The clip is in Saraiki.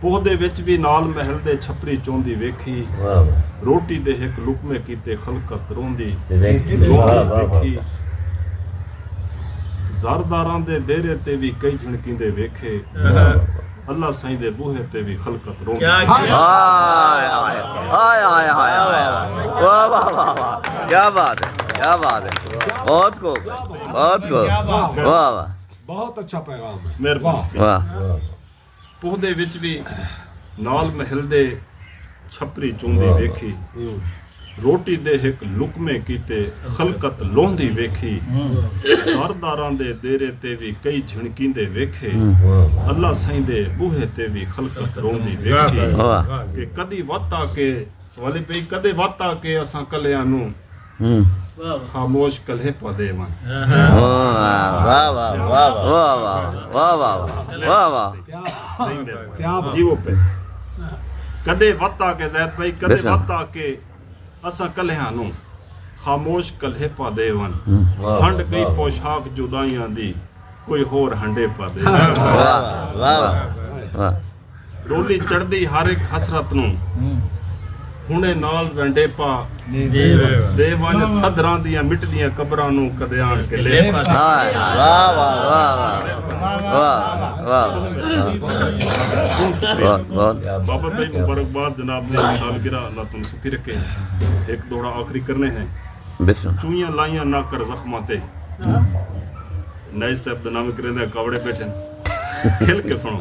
پوہ دے وچ وی نال محل دے چھپری چوندی ویکھی روٹی دے ہک لقمے کیتے خلقت روندی ویکھی زرداراں دے دیرے تے وی کئی جھنکیندے ویکھے اللہ سائیں دے بوہے تے وی خلقت روندی ویکھی ہائے ہائے ہائے ہائے ہائے واہ واہ واہ واہ کیا بات ہے کیا بات ہے بہت کو بہت کو واہ واہ بہت اچھا پیغام ہے مہربان واہ اوہدے وچ وی نال محل دے چھپری چوندی ویکھی روٹی دے ہک لقمے کیتے خلقت لوہندی ویکھی سرداراں دے دیرے تے وی کئی جھنکیندے ویکھے اللہ سائیں دے بوہے تے وی خلقت روندی ویکھی کہ کدی وت آکے سوالی پئی کدے وت آکے اساں کلیاں نوں خاموش کلہے پودے ون کدے وقت آ کے زید بھائی کدے وقت آ کے اساں کلے ہانو خاموش کلہے پودے ون ہنڈ گئی پوشاک جدائیاں دی کوئی ہور ہنڈے پودے ون ڈولی چڑھدی ہر ہک حسرت نوں ہنڑے نال رنڈیپا دے ونج صدراں دیاں مٹدیاں قبراں نوں کدے آن کے لے پا بابر بھائی مبارکباد جناب نے سالگرہ اللہ تم سکی رکھے ایک دوڑا آخری کرنے ہیں چوئیاں لائیاں نہ کر زخماں تے نئے صاحب دا نام کریں دے کاوڑے بیٹھے کھل کے سنو